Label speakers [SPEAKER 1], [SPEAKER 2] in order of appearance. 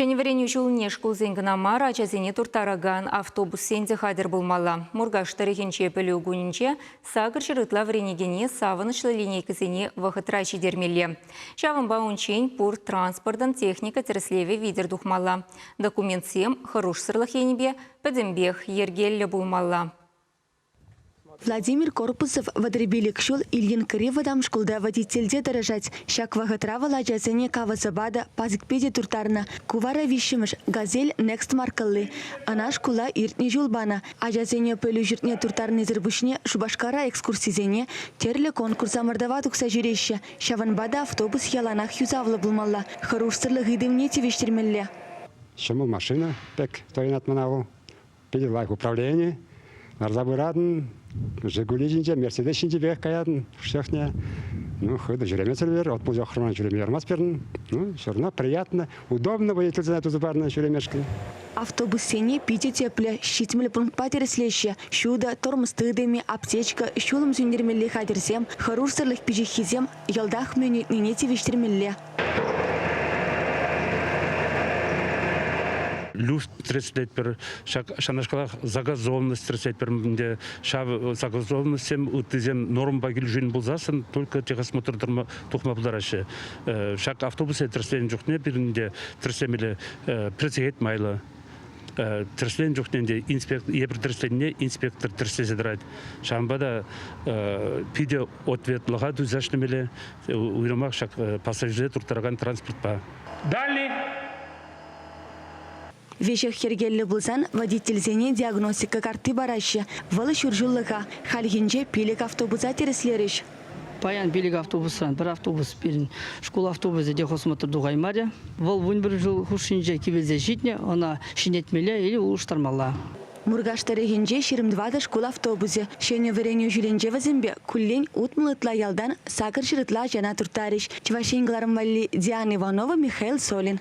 [SPEAKER 1] Ҫӗнӗ вӗренӳ ҫулне шкулсен кӑна мар, ачасене турттаракан автобуссен те хатӗр пулмалла. Муркаш тӑрӑхӗнче пӗлӳ кунӗнче сакӑр ҫӗр ытла вӗренекене савӑнӑҫлӑ линейкӑсене вӑхӑтра ҫитермелле. Ҫавӑнпа унччен пур транспортӑн техника тӗрӗслевӗ витӗр тухмалла. Документсем хӑрушсӑрлӑх енӗпе пӗтӗмпех йӗркеллӗ пулмалла.
[SPEAKER 2] Владимир Корпусов вӑтӑрпилӗк ҫул Ильинкӑри вӑтам шкулта водительте тӑрӑшать. Ҫак вӑхӑтра вӑл ачасене кавӑсӑпа та, пасӑкпе те турттарнӑ. Ку вара виҫҫӗмӗш «Газель Next» маркӑлли. Ӑна шкула иртнӗ ҫул панӑ. Ачасене пӗлӳ ҫуртне турттарнисӗр пуҫне Шупашкара экскурсисене, тӗрлӗ конкурс-ӑмӑртӑва тухса ҫӳреҫҫӗ. Ҫавӑнпа та автобус яланах юсавлӑ пулмалла, хӑрушсӑрлӑх ыйтӑвне тивӗҫтермелле. Ҫӑмӑл
[SPEAKER 3] машина пек туянать мана вӑл. Питӗ лайӑх управлени. Ларса пыратӑн, Жигули ҫинче, Мерседес ҫинчипех каятӑн чӑхне. Ну, хытӑ ҫӳремесӗр от пулчӗ охрана ҫӳреме ярмасть пирӗн. Ну, все равно приятно, удобно водительсене туса парнӑ ҫӳремешкӗн. Автобуссене
[SPEAKER 2] питӗ тӗплӗ, ҫитмӗл пунктпа тӗрӗслеҫҫӗ. Ҫутӑ, тӑрмӑс тытӑмӗ, аптечка, ҫулӑм сӳнтермелли хатӗрсем, хӑрушсӑрлӑх пиҫиххисем йӑлтах мӗн ыйтнине тивӗҫтермелле.
[SPEAKER 4] люстра тӗрӗслетпӗр. Ҫакнашкалах загазованность тӗрӗслетпӗр ӗнтӗ. Ҫав загазованностьсем ыттисем нормӑпа килӗшӳн пулсассӑн только техосмотр тухма пултараҫҫӗ. Ҫак автобуса тӗрӗсленӗ чухне пирӗн те тӗрӗслемелле пӗрсехет майлӑ. тӗрӗсленӗ чухне те инспектор эпир тӗрӗсленне инспектор тӗрӗслесе тӑрать. Ҫавӑнпа та питӗ ответлӑха тусаҫнӑ уйрӑмах ҫак пассажирсене турттаракан транспортпа. Далее.
[SPEAKER 2] Веҫех йӗркеллӗ пулсан водительсене диагностика картти параҫҫӗ. Вӑл ҫур ҫуллӑха. Хальхинче пилӗк автобуса тӗрӗслерӗҫ. Паян пилӗк
[SPEAKER 5] автобусран пӗр автобус пирӗн шкул автобусӗ те хосмотр тухаймарӗ. Вӑл вунпӗр ҫул хушшинче кивелсе ҫитнӗ, ӑна ҫӗнетмелле или улӑштармалла. Муркаш
[SPEAKER 2] тӑрӑхӗнче ҫирӗм тӑватӑ шкул автобусӗ ҫӗнӗ вӗренӳ ҫулӗнче вӗсемпе куллен утмӑл ытла ялтан сакӑр ҫӗр ытла ачана турттарӗҫ, Чӑваш Ен кӑларӑм валли, Диана Иванова, Михаил Солин.